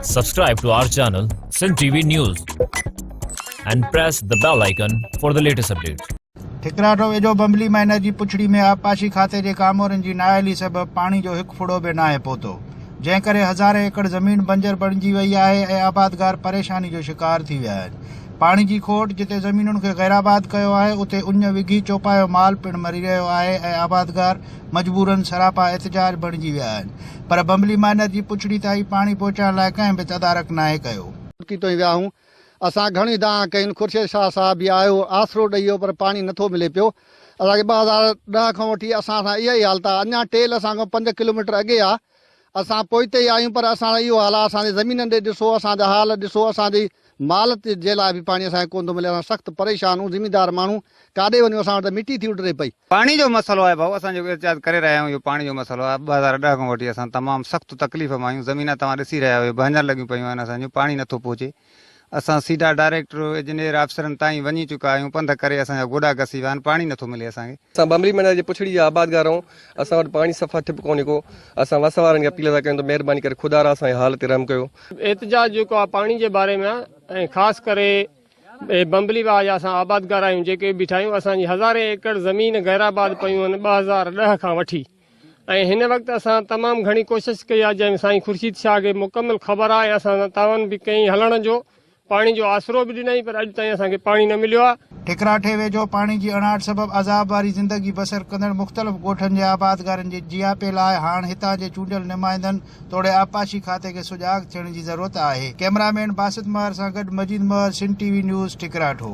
Subscribe to our channel Sindh TV News and press the bell icon for the latest updates. Thakrato ويجهو Bumbli minor جي پڇڙي ۾ آبپاشي کاتي جي ڪامورن جي نااهلي سبب پاڻي جو هڪ ڦڙو به ناهي پهتو جنهن ڪري هزارين ايڪڙ زمين بنجر بڻجي وئي آهي ۽ آبادگار پريشاني جو شڪار ٿي ويا آهن پاڻي جي کوٽ جتي زمينن کي غيرآباد ڪيو آهي اتي اڃ وگهي چوپايو مال پڻ مري رهيو آهي ۽ آبادگار مجبورن سراپا احتجاج بڻجي ويا آهن پر بمبلي مائنر جي پڇڙي تائين پاڻي پهچائڻ لاء ڪنهن به تدارڪ ناهي ڪيو. ڪي توهين ويا هون اسان گهڻي دانهن ڪئين خورشيد شاهه صاحب به آيو آسرو ڏئي ويو پر پاڻي نٿو ملي پيو اسان کي ٻه هزار ڏهه کان وٺي اسان سان اها ئي حالت آهي اڃا ٽيل اسان کان پنج ڪلوميٽر اڳي آهي اسان پوئتي آهيون پر اسان جو اهو حال آهي اسان جي زمينن ڏي ڏسو اسان جا حال ڏسو اسان جي مال جي لاء به پاڻي اسان کي ڪونه ٿو ملي اسان سخت پريشان آهون زميندار ماڻهو ڪاڏي وڃون اسان وٽ ته مٽي ٿي اڊري پئي. پاڻي جو مسئلو آهي ڀائو اسان جيڪو احتجاج ڪري رهيا آهيون اهو پاڻي جو مسئلو آهي ٻه هزار ڏهه کان وٺي اسان تمام سخت تڪليف ۾ آهيون زمينا توهان ڏسي رهيا آهيو اهي ڀڃڻ لڳيون پيون آهن اسان جون پاڻي نٿو پهچي اسان سيڌا ڊائريڪٽر، اجنيئر، آفيسرن تائين وڃي چڪا آهيون، پنڌ ڪري اسان جا گوڏا گسي ويا آهن، پاڻي نٿو ملي اسان کي. اسان ٻنبري مينار جي پڇڙي جا آبادگار آهيون، اسان وٽ پاڻي صفا ٺپ ڪونهي ڪو، اسان وس وارن کي اپيل ٿا ڪيون ته مهرباني ڪري خدا را اسان جي حال تي رحم ڪيو. احتجاج جيڪو آهي پاڻي جي باري ۾ آهي ۽ خاص ڪري ٻنبلي واهه جا اسان آبادگار آهيون جيڪي بيٺا آهيون، اسان جي هزارين ايڪڙ زمين غيرآباد پيون آهن ٻه هزار ڏهه کان وٺي، ۽ هن وقت اسان تمام گهڻي ڪوشش ڪئي آهي جنهن سائين خورشيد شاهه کي مڪمل خبر آهي اسان سان تعاون به ڪيائين هلڻ جو پاڻي جو آسرو به ڏنائين پر اڄ تائين اسان کي پاڻي نه مليو آهي. ٺڪراٺي ويجهو پاڻي جي اڻاٺ سبب عذاب واري زندگي بسر ڪندڙ مختلف ڳوٺن جي آبادگارن جي جياپي لاء هاڻ هتان جي چونڊيل نمائندن توڙي آبپاشي کاتي کي سجاڳ ٿيڻ جي ضرورت آهي ڪئميرا مين باسط مهر سان گڏ Majeed Mahar Sindh T V news ٺڪراٺو.